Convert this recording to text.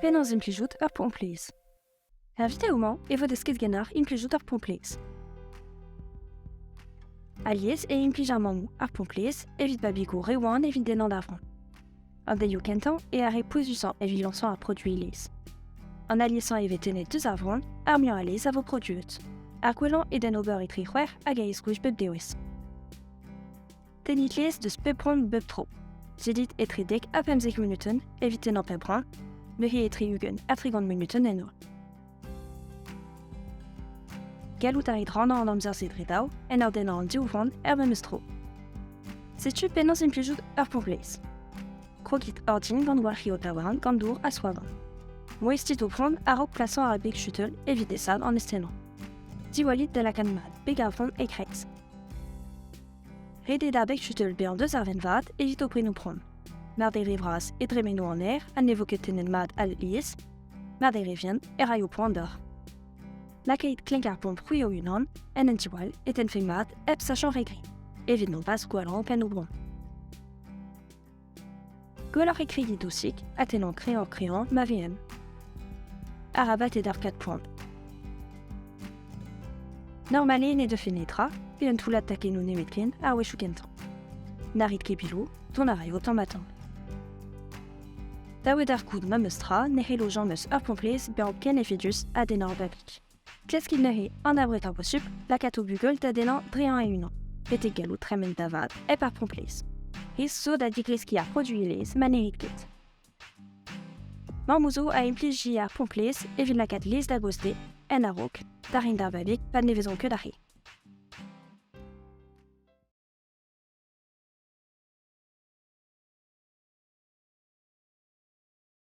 Penaos implijout ur pomplez Invité au Mans e vo desket ganeoc'h implijout ar pomplez. Alies e implij ar mammoù ar pomplez evit babigoù re wan evit dennañ da vran. An delioù kentañ eo ar re pouezusañ evit lañsañ ar produiñ lez. An aliesañ e vez tennet deus ar vran, ar muiañ a lez a vo produet. Ar gwellañ eo d'en ober etre c'hwec'h hag a esgouezh bep dewezh. Tennit lez deus pep ront bep tro. Zedit etre dek ha pemzek munuten evit tennañ pep run, neuze etre ugent ha trigant munuten en noa. Gallout a rit rannañ an amzer-se dre dav en ur dennañ an div vran er memes tro. Setu penaos implijout ur pont-gleiz. Krogit ordin gant walc'hi ho tawaran gant dour ha swadan. Moestit ho pront a-raok plasañ ar beg chuteul evit desad an estennañ. Diwallit da lakaat mat beg ar vran e-kreiz. Ret eo da beg chutel bezañ deus ar vent vat evit o prenoù prom. Mar d'eo re vras e dremeno an aer ha ne vo ket tennet mat al lies, mar d'eo re vient e raio poan deoc'h. Lakaet klenk ar pomp c'hwi o-unan en un tiwall e tenfe mat hep sachañ re gri, evit mont pas gwallañ pennoù brom. Gwelloc'h e krigiñ dousik ha tennañ kreñv-kreñv ma vehen. Arabat e darkat poan. Normalet ne deufe netra pe un toullad takennoù nemetken a-wechoù kentañ. Na rit ket biloù, dont a raio tamm-ha-tamm. Dav eo d'ar goût ma meus tra ne c'hello Jean meus ur pomplez bezañ ken efedus ha dennañ va bik. Kreskiñ neuze an abred a posupl lakaat o bugel da dennañ dreañ e-unan, betek gallout tremen da vat hep ar pomplez. He zo da digreskiñ ar produelezh ma n'erit ket. Mammoù zo a implij ar pomplez evit lakaat lez da gostez, en a-raok, da reiñ d'ar babig pa ne vezont ket ar re.